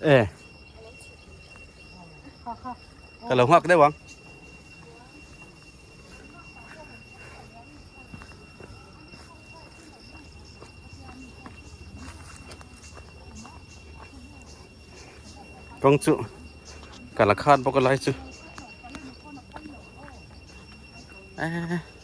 e ka lo ngak deuh ang kong chu kala khan bawk a lai chu a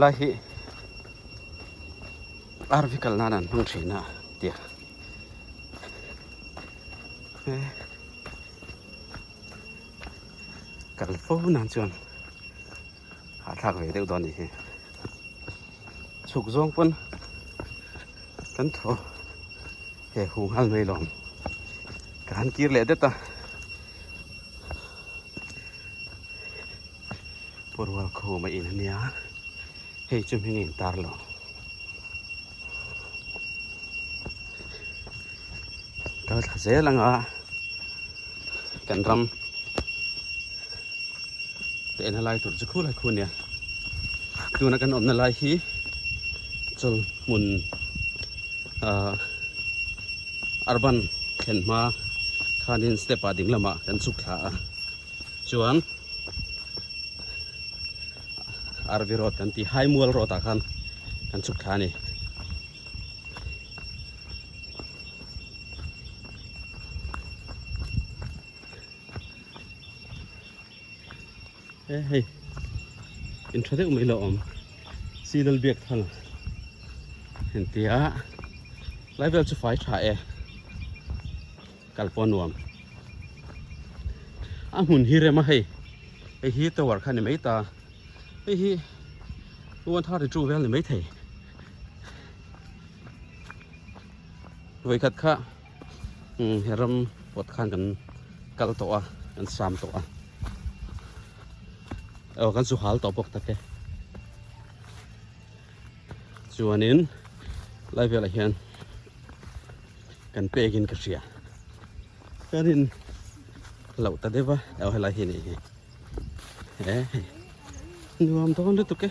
lai hi arvi kal nan an hmang thin a tia kal fo nan chuan a thak ve deuh dawn ni hi chuk zawng pun kan thaw he hung hal mai lawm kan kir leh det a Purwal khum a in a nia hei chu hming a in tar lo kal thla zel anga kan ram te na lai tur chu khu lai khu nia tuna kan awmna lai hi chul hmun a ah, Arban thlen hma khanin step a ding lamah kan chuk thla a chuan Arvi road kan ti hai mual road a khan kan chuk thla ni Eh hei. In tha deuh mai lo awm. Seedal biak thang en tia. Lai vel chu fai tha e. Kal pawh nuam. A hmun hi rem a hei. Hei hi tower kha ni mai ta. Hei hi one thirty two vel ni mai thei. Vei khat kha. he ram kawt khan kan kal tawh a kan sam tawh a aw kan chu hal tawh bawk ta te chuanin lai velah hian kan pekin ka hria kan in lo ta deva aw helai hi nei hi e nuam dawn lutuk e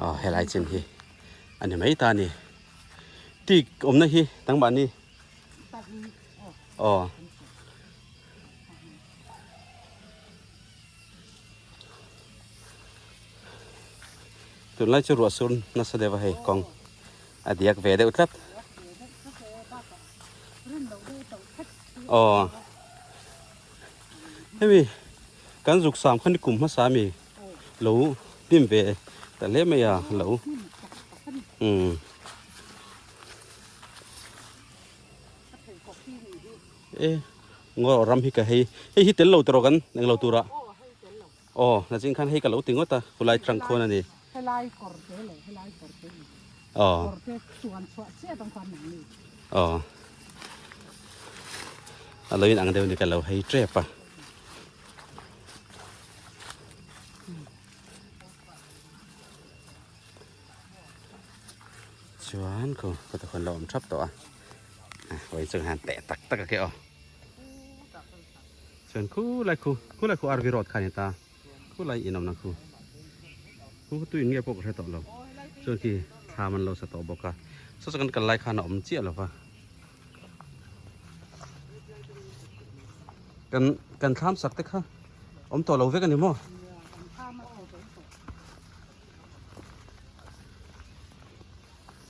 Aw helai chin hi ani mai ta ni tik omna hi tang ba ni aw tun lai chu ruah sur nasa deuh a hei kawng a diak ve deuh tlat Aw. Hemi kan zuk sam khan kum hma sa mi. Lo pim ve ta le mai a lo. Um. E ngor ram hi ka hei. Hei hi tel lo tawrh kan eng lo tura. Aw, na zing khan hei ka lo ti ngawt a, khulai trunk khawn a ni. Helai kawr te leh helai kawr te ni a, kawr te chuan chhuah chiah ang khan ang ni. Aw, a lo in ang deuh ni ka lo hei tep a. Chuan kho ka ta khawn lo awm thap tawh a. Vawiin chung han teh tak tak a keh aw. Chuan khulai khu, khulai khu RV road kha a ni ta, khulai in awmna khu, khu tu in nge pawh ka hre tawh lo, chuan khi thlam an lo sa tawh bawk a, sasa kan kal lai khan a awm chiah lo a, kan kan thlam sak te kha awm tawh lo vek a ni maw?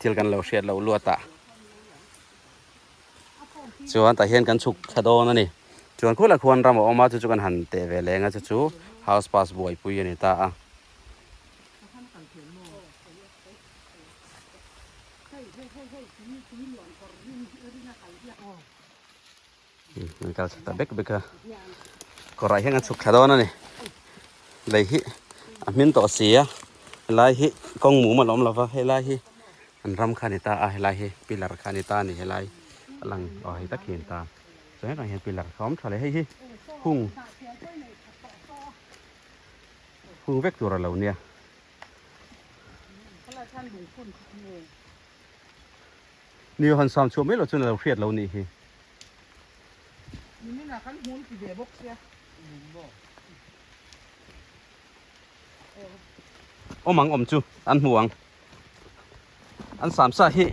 Thil kan lo hriat loh luat ah chuan tah hian kan chhuk thla dawn a ni. Chuan khula khuan ram a awm a, chu chu kan han teh ve leng a, chu chu house pass buaipui a ni ta a. An kal chhak ta bek bek a. Kawrah hian kan chhuk thla dawn a ni. Lei hi a hmin tawh si a. Helai hi kawng mum a lo awm lo va. Helai hi an ram kha a ni ta a. Helai hi pillar kha a ni ta a ni. Helai a lang aw hei tak hi a ni ta. Chuan hetah hian pillar kha a awm tha leh. Hei hi hung hung vek tur a lo nia. Ni Johan sound chhuah mai lo chuan a lo hriat lo nih hi. Ni Mina kan hun ti ve bawk sia. Hun bawk. Awm ang awm chu an hmu ang. An sam sa hi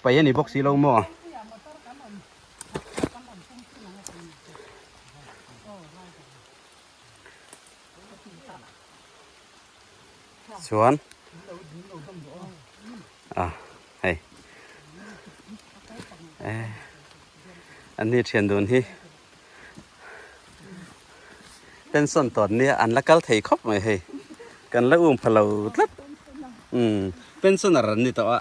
pai a ni bawk si lo maw. chuan a hei e an ni thian dun hi tension tawt nia an la kal thei khawp mai hei kan la um phalo tlat um pensioner an ni tawh a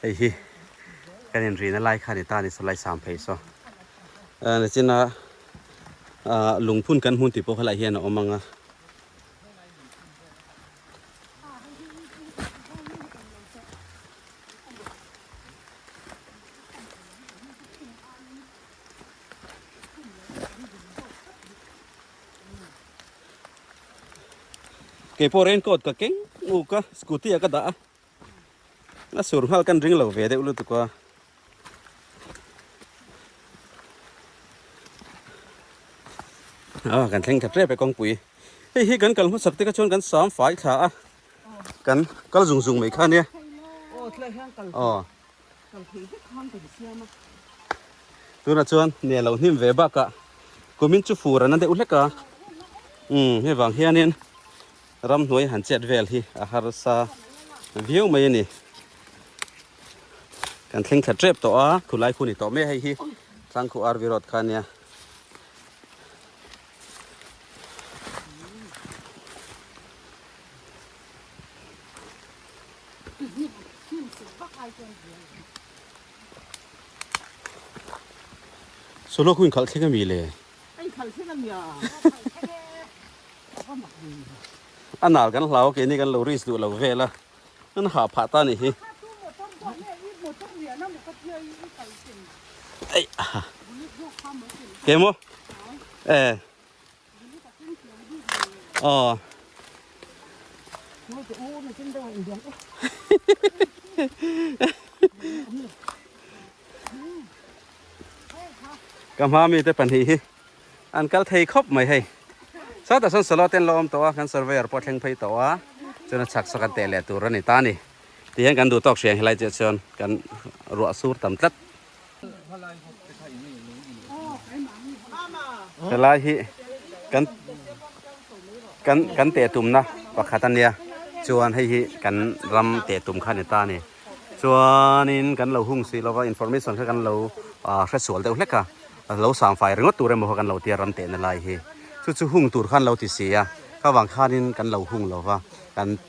Hei hi kan inrihna lai kha ni ta ni salai sam phei saw ni china lungphun kan hmun ti pawh kha lah hian a awm ang a Mm. Kei pawh rain coat ka keng uk a, scooty ah ka dah a. A sur nghal kan ring lo ve deuh lutuk a. Ah, kan thleng tep tep e kawngpui. Hei hi kan kal hmasak tika chuan kan sam fai thla a. Kan kal zung zung mai kha nia. Aw, tlaiah hian kal. Aw. tunah chuan ni a lo hnim ve bakah kumin chu fur an a deuh hlek a umm hevang hianin ramhnuai han chet vel hi a harsa viau mai a ni kan thleng thla tep tawh a khulai khu ni tawh mai hei hi tlangkhu arvi road kha nia Solo khu in khalh thleng ami le. Anh khalh thleng ami à. Anal kan hlau ke ni kan lo ris duh lo ve la. Nan ha pha ta ni hi. Ai. Kemo. Eh. Ờ. Ka hma mi te pahnih hi an kal thei khawp mai hei. Sau tah sawn solo ten la awm tawh a, kan surveyor pawh a thleng phei tawh a, chuan a chhak saka teh leh tur a ni ta a ni. Tihian kan duh tawk hriang hi lai chiah chuan kan ruah sur tam tlat. Helai hi kan kan kan te tum na pakhat ania chuan hei hi kan ram te tum kha ni ta ni chuan in kan lo hung si lova information kha kan lo a hre sual deuh hlek a lo sam fai ringawt tur emaw kan lo tia ram te na lai hi chu chu hung tur khan lo ti si a ka vang khan in kan lo hung lova kan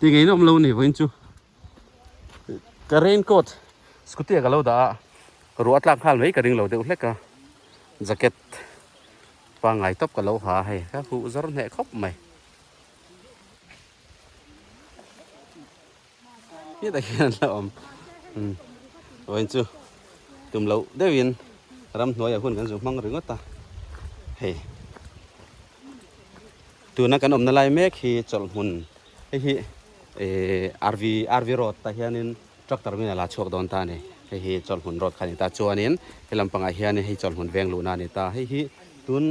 Ti ngei nawm lo ni vawiin chu ka rain coat scooty ah ka lo dah a, ruah a tlak nghal mai ka ring lo deuh hlek a, jacket pangngai tawp ka lo ha a hei, ka huh zawr hneh khawp mai. Hetah khian an lo awm, umm vawiin chu tum loh deuhin ramhnuaiah hun kan zun hmang ringawt a hei. tuna kan awmna lai mek hi chawlhmun hei hi eh rv rv road tah hianin tractor milah la chhuak dawn ta a ni hei hi chawlhmun road kha a ni ta chuanin he lam pangah hian hei chawlhmun veng luhna a ni ta hei hi tun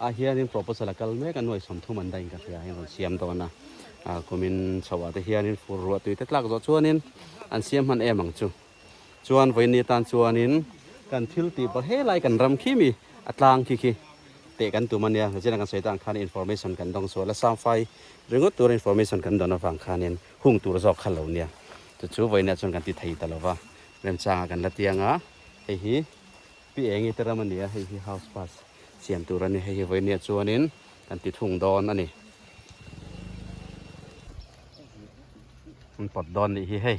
ah hianin proposal a kal mek a nuaih sawm thum an daih ang ka hria hei rawn siam dawn a ah kumin chhoh ah te hianin fur ruah tui te tlak zawh chuanin an siam hman em ang chu. Chuan vaini tan chuanin kan thil tih pawh he lai kan ram khim i a tlang khi khi teh kan tum a nia. Zira kan sawi tan khan information kan dawng sual a, Samfai ringawt tura information kan dawn avang khanin hung tur zawk kha lo nia. Chu chu vawinia chuan kan ti thei ta lo va, remchanga kan la tiang a, hei hi Pi Engi te ram a ni a, hei hi house pass siam tur a ni, hei hi vawinia chuanin kan ti thung dawn a ni. Kan pawt dawn nih hi hei.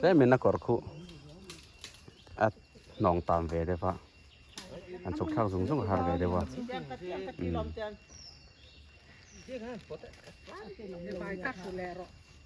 Tlem in a kawr khuh a hnawng tam ve deuh a, an chhuk thlak zung zung a har ve deuh a.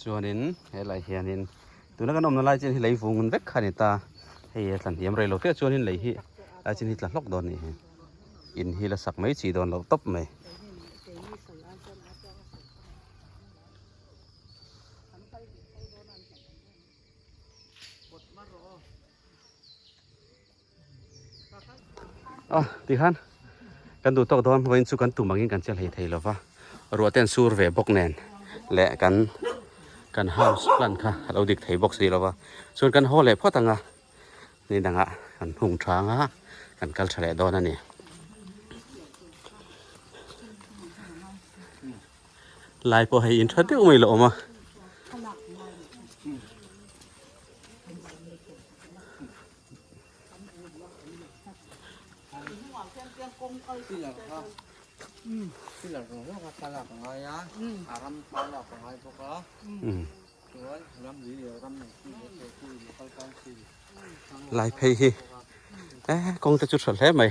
Chuanin he laiah hianin tuna kan awmna lai chian hi lei vungun vek kha a ni ta. Hei hi a tla hniam rei lo teh chuan in lei hi lai chin hi tla hlawk dawn a nih hi. In hi la sak mai chhi dawn loh tawp mai. A tikhan kan duh tawk dawn vawiin chu kan tum angin kan che hlei thei lova ruah ten sur ve bawk nen leh kan kan house plant kha a lo dik thei bawk si lova chuan kan haw leh phawt anga ni dang a kan hung tha anga kan kal tha leh dawn a ni lai pawh hei in tha deuh mai loh a awm a Lai phei hi kawngte chu tha hle mai.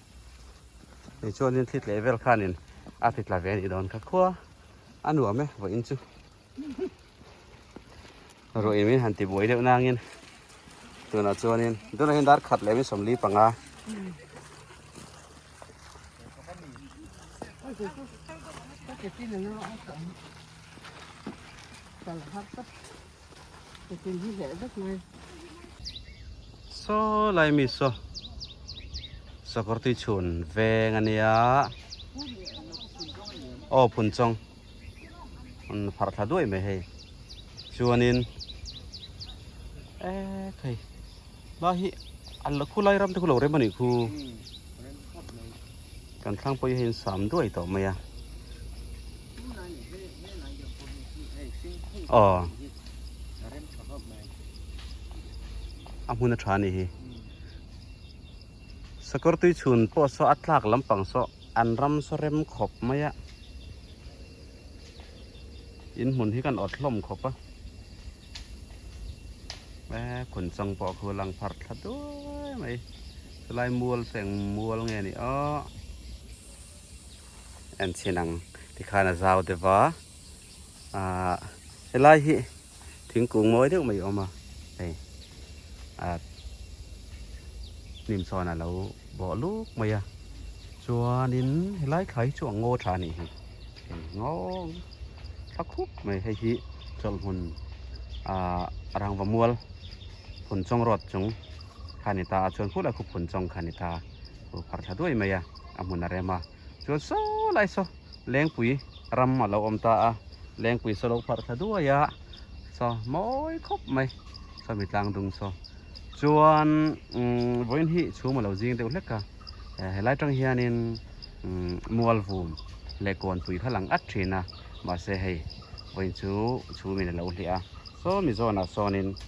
Ni chuan in thlit leh vel khan in a thlit la ve ni don kha khua a nuam e vawih in chu ruah in min han ti buai deuh nang in tunah chuan in tunah in dar khat leh min sawmli panga Thank you. Ipin hi hleh vek mai. Saw lai mi saw. Sakor tui chun veng ania. Oh phun chong. Un phar thla duai mai hei. Chuanin eh thei. Hma hi a khu lai ram te khu lo rem a nih khu. Kan thlang pawh hi hei in sam duai tawh mai a. Ờ. A hmun a tha ni hi. Sakawr tui chhun pawh saw a tlak lampang saw an ram saw rem khawp mai a. in hmun hi kan awt hlawm khawp a eh khun chang pawh khu lang phar thla duai mai chulai mual feng mual nge ni a en chin ang tikhan a zau deva a helai hi thingkung mawi deuh mai a awm a hei a hnim chuan a lo bawh luk mai a chuanin helai thlai hi chu a ngaw tha a nih hi hei ngaw tha khup mai hei hi chawlhmun ahh rangva mual phunchawng road chung kha a ni ta a chuan khulai khup phunchawng kha a ni ta a huhhar tha duai mai a a hmun a rem a. Chuan saw lai saw Lengpui ram a lo awm ta a, Lengpui saw lo pharh thla duai a, saw mawi khawp mai, saw mi tlang dung saw. Chuan vawiin hi chhum a lo zing deuh hlek a, he lai tang hianin mualvum leh kawnpui kha lang at thin a, mahse hei vawiin chu chhumin a lo hliah a, saw Mizawnah sawnin.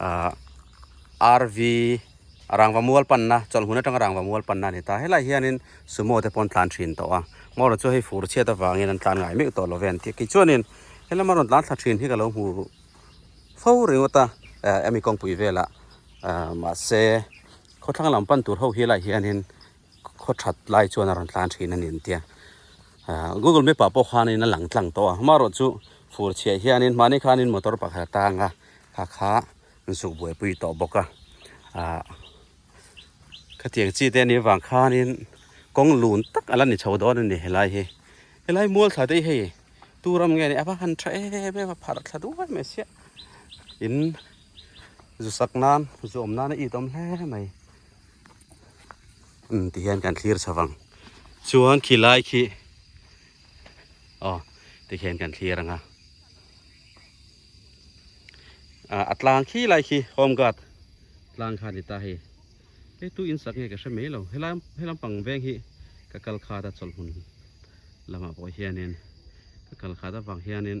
a rv a rangva mual panna chawlhmun atanga rangva mual panna a ni ta helai hianin sumo te pawh tlan thin tawh a hmawr chu hei fur chhiat avangin an tlan ngai meuh tawh love an tih khi chuanin helama rawn tlan thla thin hi ka lo hmu fo ringawt a eh ami kawngpui velah mahse khawthlang lam pan tur ho hi a lah hianin. khaw that lai chuan a rawn tlan thin a ni an tia google map ah pawh khanin a lang tlang tawh a amaherawh chu fur chhiah hianin mahni khanin motor pakhat a tang a kha kha an suh buaipui tawh bawk a ah khatiang chi te nih avang khanin kawng lun tak a la ni chho dawn a ni helai hi helai mual thla te hei tu ram nge ni ava han tha em em a pharh thla duai mai sia in zu sak nan zu awm nan a it awm hle mai ti hian kan thlir chho vang chuan khi lai khi aw ti hian kan thlir anga a a tlang khi lai khi home guard tlang kha ni ta hei hei tu in sak nge ka hre mai lo helai he lampang veng hi ka kal khat a chawlhmun lamah pawh hianin ka kal khat avang hianin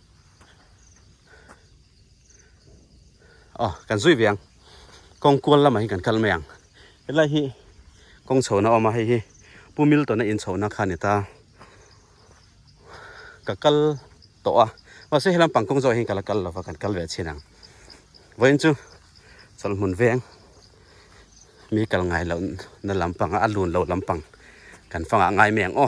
a ah, kan zui viang kong kual lama hi kan kal mai ang helai hi kong chhona oma hei hi pu milton a in chhona kha ni ta ka kal to a ma se helam pang kong zo hi kala kal lova kan kal ve chin ang voin chu chal mun veng mi kal ngai lo na lampang a lun lo lampang kan fanga ngai meng o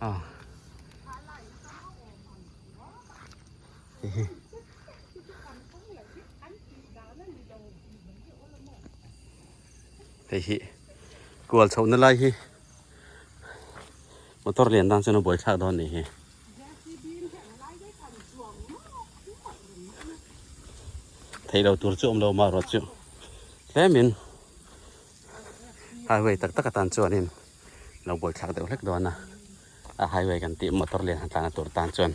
ah hehe hei hi kual chhohna lai hi Motor lian dang chuan a buai thlak dawn ni hi. Thei lo tur chu awm lo mah ruat chu. Tlemin highway tak tak atan chuan in lo buai thlak deuh hlek dawn a. A highway kan tih motor lian han tlan a tur tan chuan.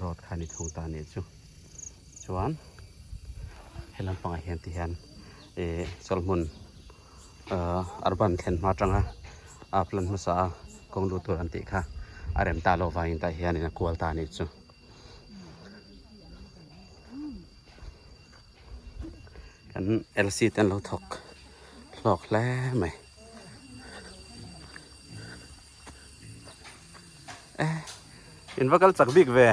Road kha ni thung ta nih chu chuan he lampang ah hian ti hian eh chawlhmun eh urban thlen hma tanga a plan hmasa a kawng lut tur an tih kha a rem ta lo vangin tah hian a kual ta nih chu kan LC ten lo thawk hlawk hle mai Inva kal chak bik ve.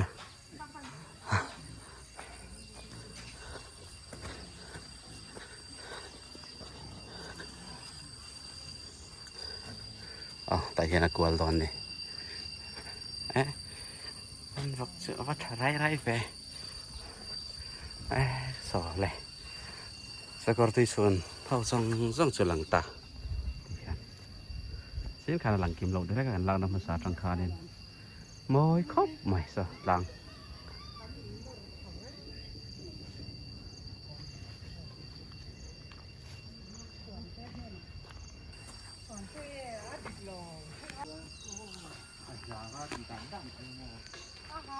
Ah, ta hian a kual dawn ni. Eh, an vak chu a va tha rai rai ve. Eh, so le. Sakor tui chun ho zong zong chu lang ta. Chin khan a lang kim lo direk a kan lakna hmasa atang khanin mawi khawp mai sa tlang Aha,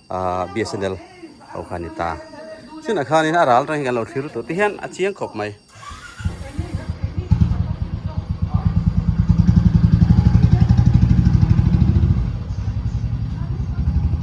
bsnl ho kha ni ta chinah khan in a ral reng kan lo thlir lutuk te hian a chiang khawp mai